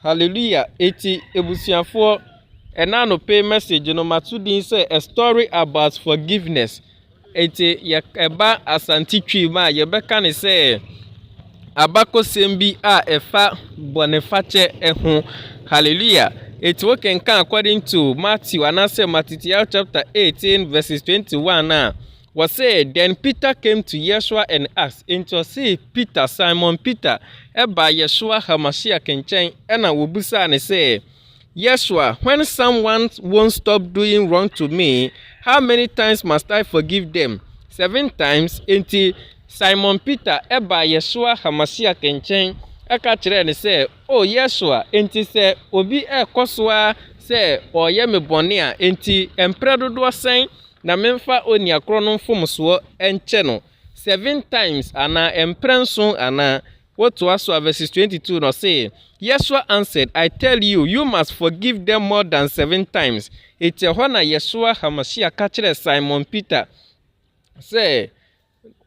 Hallelujah eti ebusuafoɔ ɛna anope message no mato din sɛ a story about forgiveness eti yɛ ɛba asante twi mu a yɛbɛka ne sɛ abakɔsɛm bi a ɛfa bɔnefakyɛ ɛho hallelujah eti wokenkan according to Matthew anaasɛ Matitial chapter eighteen verses twenty one a Wɔsee, Then Peter came to Yeshua and asked, Enti ɔsee Peter, Simon Peter, baa Yeshua HaMashiach nkyɛn na wɔbisaa no sɛ, Yeshua, when someone won't stop doing wrong to me, how many times must I forgive them? Seven times? Enti Simon Peter baa Yeshua HaMashiach nkyɛn ka kyerɛɛ no sɛ, O Yesua, enti sɛ obi rekɔ so ara sɛ ɔreyɛ me bɔne a, enti mprɛ dodoɔ sɛn na memfa onua korɔ no mfomsoɔ nkyɛ no? Seven times anaa mprɛ nson anaa? Wotoa so a, verses 22 no, ɔse, Yesua answered, I tell you, you must forgive them more than seven times. Enti ɛhɔ na Yesua HaMashiach ka kyerɛɛ Simon Peter sɛ,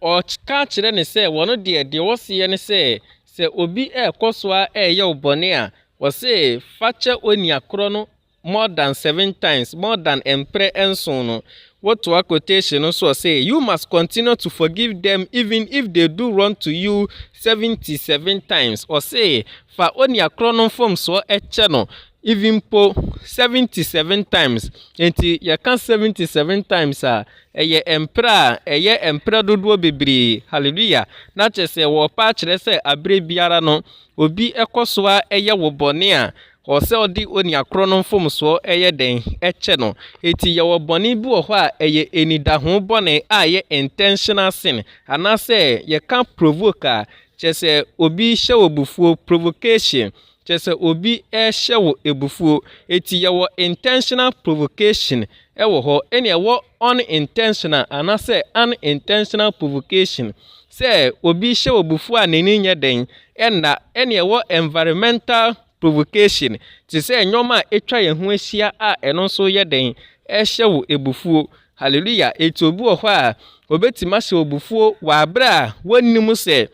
Wɔka kyerɛ no sɛ, wɔn deɛ, deɛ wɔseɛ ne sɛ, sɛ obi rekɔ so ara reyɛ wo bɔne a, wɔse fa kyɛ onua korɔ no more than seven times, more than mprɛ nson no. Wotoa quotation no soɔ sɛ, You must continue to forgive them even if they do wrong to you seventy seven times. Wɔse fa onua korɔ no mfomsoɔ kyɛ no even mpo seventy seven times. Enti yɛka seventy seven times a, Ɛyɛ mprɛ a ɛyɛ mprɛ dodoɔ bebree. Hallelujah! Na kyerɛ sɛ wɔrepa akyerɛ sɛ aberɛ biara no obi kɔ so ara yɛ wo bɔne a, ɔwɔ sɛ ɔde onua korɔ no mfomsoɔ yɛ dɛn? Kyɛ no. Enti yɛwɔ bɔne bi wɔ hɔ a ɛyɛ anidaho bɔne a ɛyɛ intentional sin. Anaasɛ yɛka provoke a, kyerɛ sɛ obi hyɛ wo abufuo, provocation. Kyerɛ sɛ obi rehyɛ wo abufuo. Eti yɛwɔ intentional provocation wɔ hɔ ɛna ɛwɔ unintentional anasɛ unintentional provocation. Sɛ obi hyɛ wo abufuo a n'ani nyɛ dɛn ɛnna ɛna ɛwɔ environmental provocation te sɛ nnoɔma a atwa yɛn ho ahyia a ɛno nso yɛ dɛn ɛhyɛ wo abufuo. Hallelujah. Eti obi wɔ hɔ a obetumi ahyɛ wo abufuo wɔ abere a wonnim sɛ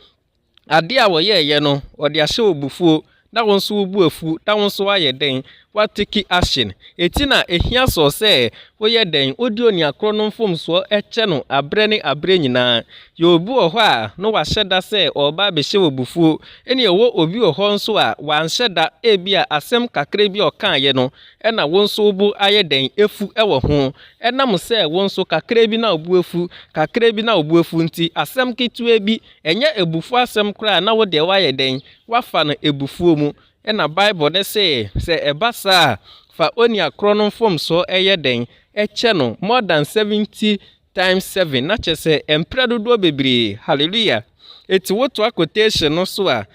Ade a wɔyɛeɛ no, wɔde ahyɛ wo abufuo, na wo nso wobu afu, na wo nso woayɛ dɛn? Woatake action. Enti na ɛhia Saul sɛ woyɛ dɛn? Wode onua korɔ no mfomsoɔ kyɛ no aberɛ ne aberɛ nyinaa. Yɛ obi wɔ hɔ a na wahyɛ da sɛ ɔreba abɛhyɛ wo abufuo, ɛnna ɛwɔ obi wɔ hɔ nso a wanhyɛ da, ebia asɛm kakra bi a ɔkaeɛ no na wo nso wo bo ayɛ dɛn? Afu wɔ ho. Ɛnam sɛ wo nso kakra bi na wo bo afu, kakra bi na wo bo afu nti, asɛm ketewa bi Ɛnyɛ abufuo asɛm koraa na wo deɛ woayɛ dɛn? Woafa no abufuo mu. Ɛna Bible no se, sɛ ɛba saa a, fa onua korɔ no mfomsoɔ yɛ dɛn? Kyɛ no, more than seventy times seven, na kyerɛ sɛ mprɛ dodoɔ bebree. Hallelujah! Enti wotoa quotation no so a,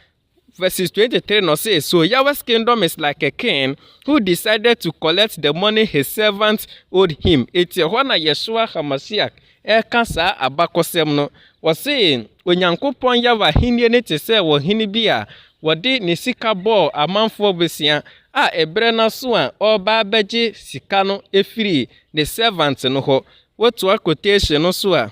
Verses 23 no say, So Yahweh's kingdom is like a king who decided to collect the money his servants owed him. Enti ɛhɔ na Yeshua HaMashiach reka saa abakɔsɛm no. Ɔse, Onyankopɔn Yahweh ahenni no te sɛ ɔhene bi a ɔde ne sika bɔɔ amanfoɔ bosea, a ɛberɛ no aso a ɔreba abɛgye sika no afiri ne servant no hɔ. Wotoa quotation no so a,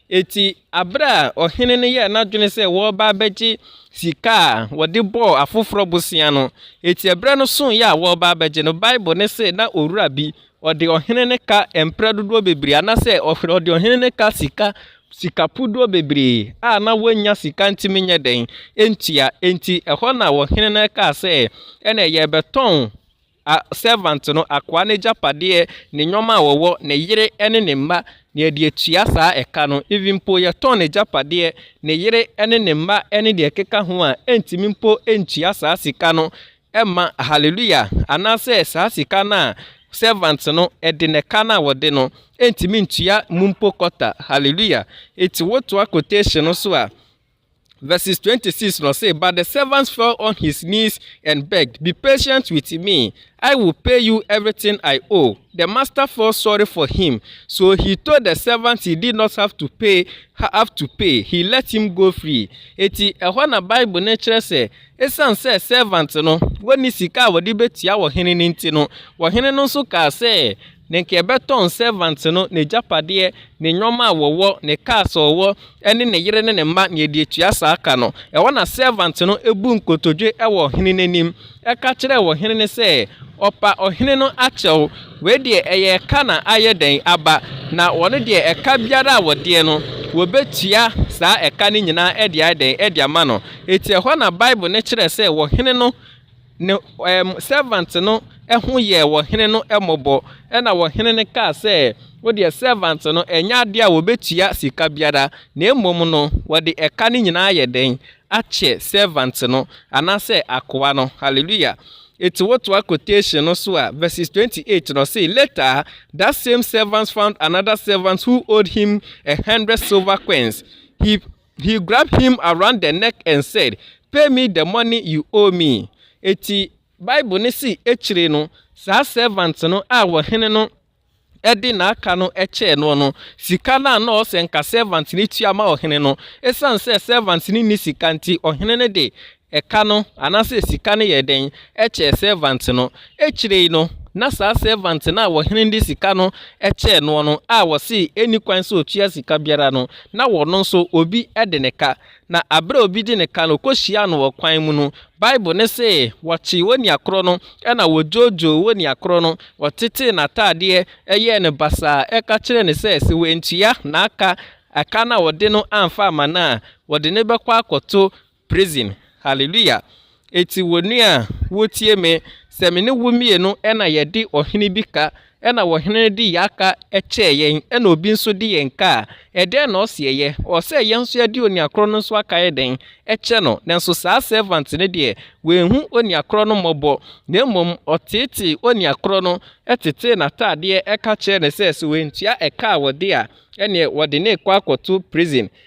Enti bere a ɔhene no yɛɛ n'adwene sɛ wɔreba abɛgye sika a wɔde bɔɔ afoforɔ bosea no, enti ɛberɛ no soeɛ a wɔreba abɛgye no, Bible no se na owura bi, ɔde ɔhene no ka mprɛ dodoɔ bebree, anaasɛ ɔde ɔhene no ka sika sika pudoɔ bebree a na wɔnnya sika ntumi nyɛ dɛn ntua. Enti ɛhɔ na ɔhene no kaa sɛ, ɛnna yɛrebɛtɔn A servant no, akoa n'agyapadeɛ, ne nnoɔma a wɔwɔ, ne yere ne ne mma, na yɛde atua saa a ɛka no, even mpo yɛtɔn n'agyapadeɛ, ne yere ne ne mma ne deɛ ɛkeka ho a, ɛntumi mpo ntua saa sika no mma, hallelujah, anaasɛ saa sika no a servant no de no, ɛka no a wɔde no, ɛntumi ntua mu mpo quarter, hallelujah, enti wotoa quotation no so a, Verses 26 no say, But the servant fell on his knees and begged, Be patient with me, I will pay you everything I owe. The master felt sorry for him, so he told the servant he did not have to pay, have to pay. He let him go free. Eti ɛhɔ na Bible no kyerɛ sɛ, esiane sɛ servant no wɔnni sika a wɔde betua ɔhene no nti no, ɔhene no nso kaa sɛ, Na nka yɛbɛtɔn sɛvant no, n'agyapadeɛ, ne nnoɔma a wɔwɔ, ne cars a ɔwɔ, ne ne yere ne ne mma, na yɛde atua saa ka no. Ɛhɔ na sɛvant no buu nkotodwe wɔ ɔhene no anim, ka kyerɛɛ ɔhene no sɛ, Ɔpa ɔhene no akyɛw, wei deɛ ɛyɛ ɛka na ayɛ dɛn aba, na wɔn deɛ ɛka biara a wɔdeɛ no, wɔbɛtua saa ɛka no nyinaa de ayɛ dɛn, de ama no. Enti ɛhɔ na Bible no kyerɛ sɛ ɔhene no, ne um, servant no ho yɛɛ ɔhene no mmɔbɔ. Ɛna ɔhene no kaa sɛ, Wo deɛ servant no, ɛnyɛ adeɛ a wɔbɛtua sika biara, na mmom no, wɔde ɛka no nyinaa ayɛ dɛn? Akyɛ servant no, anaasɛ akoa no. Hallelujah. Eti wotoa quotation no so a, verses 28 no, ɔse, Later, that same servant found another servant who owed him a hundred silver coins. He He grabbed him around the neck and said, Pay me the money you owe me. Enti Bible no se akyire no, saa servant no a ɔhene no de n'aka no kyɛɛ noɔ no, sika no a na ɔwɔ sɛ nka servant no tua ma ɔhene no, esiane sɛ servant no nni sika nti, ɔhene no de Ɛka no, anaasɛ sika no yɛɛ dɛn kyɛɛ sɛɛvant no? Akyire yi no, na saa sɛɛvant no a ɔhene no de sika no kyɛɛ noɔ no a ɔsee ɛnni kwan sɛ ɔtua sika biara no, na ɔno nso obi de no ka. Na berɛ a obi de no ka no, ɔkɔhyiaa no wɔ kwan mu no, Bible no se, Wɔkyee onua korɔ no, ɛnna wɔdwoodwoo onua korɔ no, wɔtetee n'ataadeɛ, yɛɛ no basaa, ka kyerɛɛ no sɛ, sɛ wantua n'aka, ɛka no a ɔde no amfa amma no a, wɔde no bɛkɔ akɔto Prison Hallelujah Eti wo nua a wo tie me sɛ me ne wo mmienu na yɛ de ɔhene bi ka ɛna ɔhene no de yaa ka kyɛɛ yɛn ɛna obi nso de yɛn ka a ɛdɛn na ɔse ɛyɛ ɔɔ sɛ yɛn nso yɛde onua korɔ no nso aka ayɛ dɛn ɛkyɛ no nanso saa servant no deɛ wanhu onua korɔ no mmɔbɔ na mmom ɔteetee onua korɔ no tetee nataadeɛ ɛka kyerɛɛ no sɛ sɛ wantua ɛka a ɔde a ɛneɛ wɔde no rekɔ akɔto prison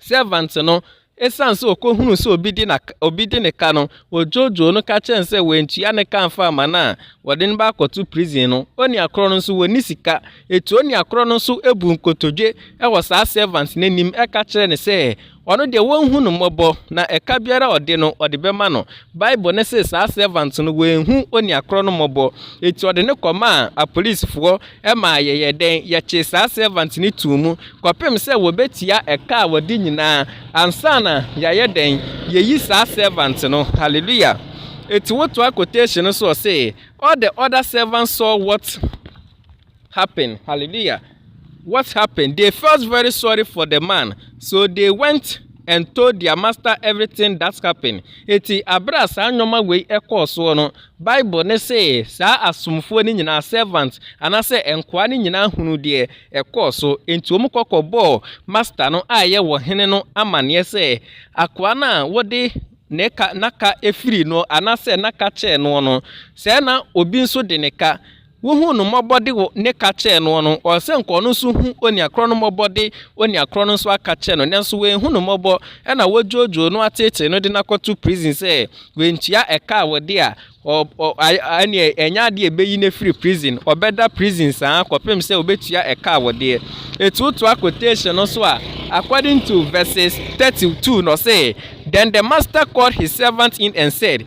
Sɛvant no, esiane sɛ okohunuu sɛ obi de na obi de ne ka no, wodwoodwoo no ka kyerɛɛ no sɛ wantua ne ka amfa amma no a, wɔde no bɛakɔto prison no. Onua korɔ no nso, wɔnni sika. Eti onua korɔ no nso buu nkotodwe wɔ saa sɛvant no anim ka kyerɛɛ no sɛ, ɔno deɛ, wɔnhu no mmɔbɔ, na ɛka biara a ɔde no, ɔde bɛma no. Bible no se saa sɛvant no, wanhu onua korɔ no mmɔbɔ. Eti ɔde no kɔmaa apolisifoɔ. Ɛmaa yɛyɛɛ dɛn? Yɛkyee saa servant no too mu kɔpem sɛ wɔbɛtua ɛka a wɔde nyinaa ansa na yɛayɛ dɛn? Yɛyi saa servant no. Hallelujah! Enti wotoa quotation no so ɔse, All the other servants saw what happened. Hallelujah! What happened? They felt very sorry for the man, so they went and told their master everything that happened. Enti abere a saa nnoɔma wei ɛkɔɔ soɔ no, Bible no se saa asomfoɔ no nyinaa, servants, anaasɛ nkoa no nyinaa hunuu deɛ ɛkɔɔ so, enti wɔkɔ kɔbɔɔ Master no a ɛyɛ wɔn hene no amanneɛ sɛ, Akoa no a wode ne ka, n'aka firii noɔ, anaasɛ n'aka kyɛɛ noɔ no, sɛɛ na obi nso de ne ka, Wohuu no mmɔbɔ de wo ne ka kyɛɛ noɔ no, ɔsɛ nka ɔno nso hu onua korɔ no mmɔbɔ de onua korɔ no nso aka kyɛ no, nanso wanhu no mmɔbɔ, ɛna wɔdwoodwoo no ateetee no de no akɔto prison sɛ wantua ɛka a wɔde a, ɔ, ɔ, a, ɛneɛ ɛnyɛ adeɛ a ɛbɛyi no afiri prison, ɔbɛda prison saa kɔpem sɛ ɔbɛtua ɛka a wɔdeɛ. Eti wotoa quotation no so a, according to verses 32 no ɔse, Then the master called his servant in and said,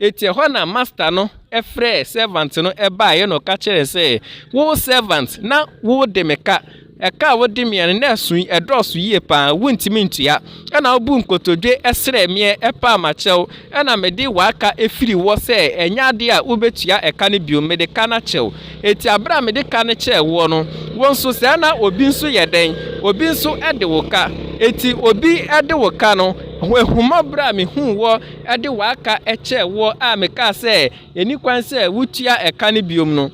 Enti ɛhɔ na masta no frɛɛ sɛvant no baeɛ na ɔka kyerɛɛ no sɛ, 'Wo sɛvant, na wode me ka. Ɛka a wode meɛ no, na ɛso yi, ɛdɔɔso yie pa ara, wontumi ntua. Ɛna wobuu nkotodwe srɛɛ meɛ paa makyɛ wo, ɛna mede w'aka firii hɔ sɛ ɛnyɛ adeɛ a wobɛtua ɛka no bio, mede ka no akyɛ wo. Enti berɛ a mede ka no kyɛɛ woɔ no, wo nso saa ara na obi nso yɛ dɛn? Obi nso de wo ka. Enti obi de wo ka no, ahummɔborɔ a mehuu wɔ de w'aka kyɛɛ woɔ a mekaa sɛ, ɛnni kwan sɛ wotua ɛka no bio no,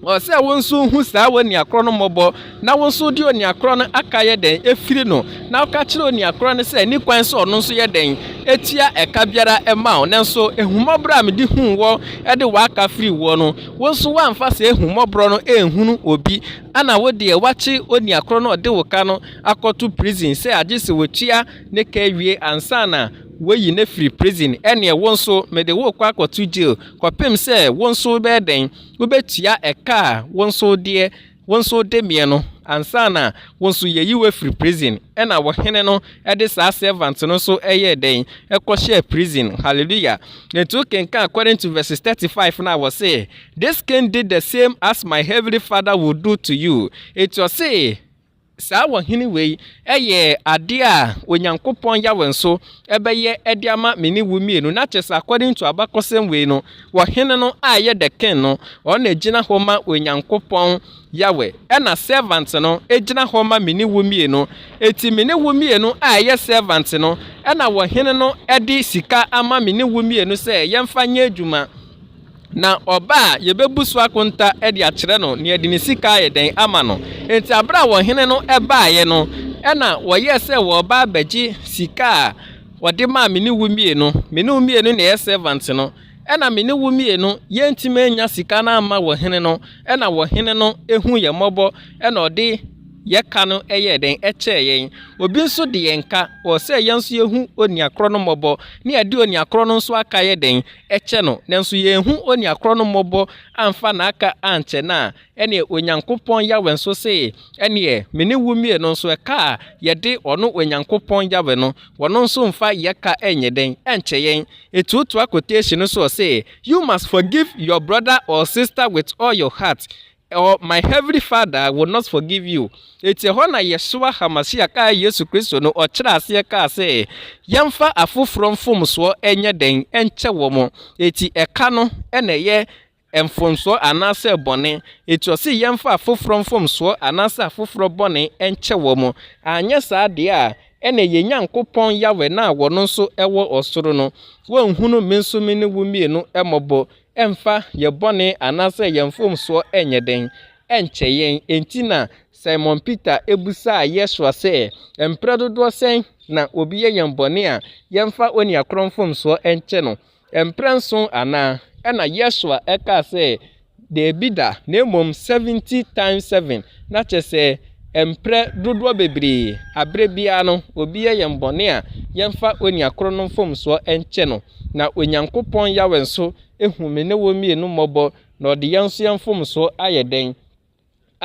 ɛwɔ sɛ wo nso hu saa onua korɔ no mmɔbɔ, na wo nso wode onua korɔ no aka yɛ dɛn? Firi no, na woka kyerɛ onua korɔ no sɛ ɛnni kwan sɛ ɔno nso yɛ dɛn? Tua ɛka biara ma wo. Nanso ahummɔborɔ a mede huu woɔ de w'aka firii woɔ no, wo nso woamfa saa ahummɔborɔ no anhunu obi, ɛna wo deɛ woakye onua korɔ no a ɔde wo ka no akɔto prison sɛ agye sɛ ɔtua ne ka wie ansa na Woayi no afiri prison, ɛnneɛ wo nso mede wo rekɔ akɔto jail kɔpem sɛ wo nso wobɛyɛ dɛn? Wobɛtua ɛka a wo nso deɛ wo nso wode meɛ no ansa na wo nso yɛyi wo afiri prison. Ɛnna ɔhene no de saa servant no nso yɛɛ dɛn? Ɛkɔhyɛɛ prison. Hallelujah! Enti wokenkan according to verses thirty five no a, ɔse, This king did the same as my heavenly Father would do to you. Enti ɔse, Saa ɔhene wei yɛ adeɛ a Onyankopɔn Yahweh nso bɛyɛ de ama me ne wo mmienu. Na kyerɛ sɛ, according to abakɔsɛm wei no, ɔhene no a ɛyɛ the king no, ɔno na ɛgyina hɔ ma Onyankopɔn Yahweh, ɛna servant no gyina hɔ ma me ne wo mmienu. Enti me ne wo mmienu a ɛyɛ servant no, ɛna ɔhene no de sika ama me ne wo mmienu sɛ yɛmfa nyɛ adwuma. Na ɔba a, yebebu so akonta de akyerɛ no nea ɛde ne sika ayɛ dɛn ama no. Enti bere a ɔhene no baeɛ no, ɛnna wɔyɛɛ sɛ wɔreba abɛgye sika a wɔde maa me ne wo mmienu. Me ne wo mmienu na yɛyɛ sɛvant no. Ɛnna me ne wo mmienu, yɛantumi annya sika no amma ɔhene no. Ɛnna ɔhene no huu yɛn mmɔbɔ, ɛnna ɔde yɛn ka no yɛɛ dɛn? Ɛkyɛɛ yɛn. Obi nso de yɛn ka, ɔwɔ sɛ yɛn nso yehu onua korɔ no mmɔbɔ, na yɛde onua korɔ no nso aka yɛ dɛn? kyɛ no, nanso yɛanhu onua korɔ no mmɔbɔ amfa n'aka ankyɛ no a, ɛneɛ Onyankopɔn Yahweh nso se, ɛneɛ me ne wo mmue no nso ɛka a yɛde ɔno Onyankopɔn Yahweh no, ɔno nso mfa yɛ ka nyɛ dɛn? nkyɛ yɛn. Ɛtuotoa quotation no so ɔse, You must forgive your brother or sister with all your heart, Ɔ My Heavenly Father will not forgive you. Enti ɛhɔ na Yeshua HaMashiach a Yesu Kristo no ɔkyerɛɛ aseɛ kaa sɛ yɛmfa afoforɔ mfomsoɔ nyɛ dɛn nkyɛ wɔn. Enti ɛka no na ɛyɛ mfomsoɔ anaasɛ bɔne. Enti ɔse yɛmfa afoforɔ mfomsoɔ anaasɛ afoforɔ bɔne nkyɛ wɔn. Anyɛ saa deɛ a ɛneɛ yɛn Nyankopɔn Yahweh no a ɔno nso wɔ ɔsoro no, wɔnhunu me nso me ne wo mmienu mmɔbɔ. Ɛmfa yɛn bɔne anaasɛ yɛn mfomsoɔ nyɛ dɛn, ɛnkyɛ yɛn. Enti na Simon Peter bisaa Yesua sɛ, Mprɛ dodoɔ sɛn na obi yɛ yɛn bɔne a, yɛmfa onua korɔ mfomsoɔ nkyɛ no? Mprɛ nson anaa? Ɛnna Yesua kaa sɛ, Daabi da, na mmom seventy times seven, na kyerɛ sɛ, mprɛ dodoɔ bebree. Aberɛ biara no, obi yɛ yɛn bɔne a, yɛmfa onua korɔ no mfomsoɔ nkyɛ no. Na Onyankopɔn Yahweh nso ahu me ne wo mmienu mmɔbɔ, na ɔde yɛn nso yɛn mfomsoɔ ayɛ dɛn?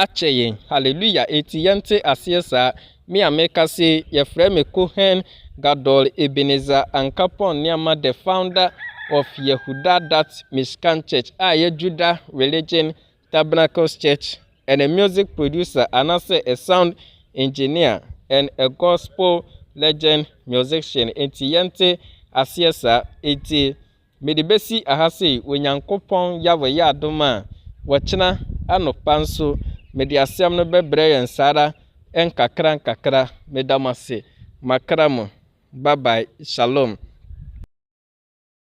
akyɛ yɛn. Hallelujah! Enti yɛnte aseɛ saa. Me a mereka sei, wɔfrɛ me Kohen Gadol Ebenezer Ankapong Nneɛma the founder of Yehuda Dutch Mishkan Church a ɛyɛ Judah Religion Tabernacles Church and a music producer anase a sound engineer and a gospel legend musician nti yɛnte aseɛ saa nti mede bɛsi aha sei wɔ Nyankopɔn Yahweh yɛ adom a wɔkyena anɔpa nso mede asɛm no bɛbrɛ yɛn saa ara nkakra nkakra meda mo ase makra mo bye bye shalom.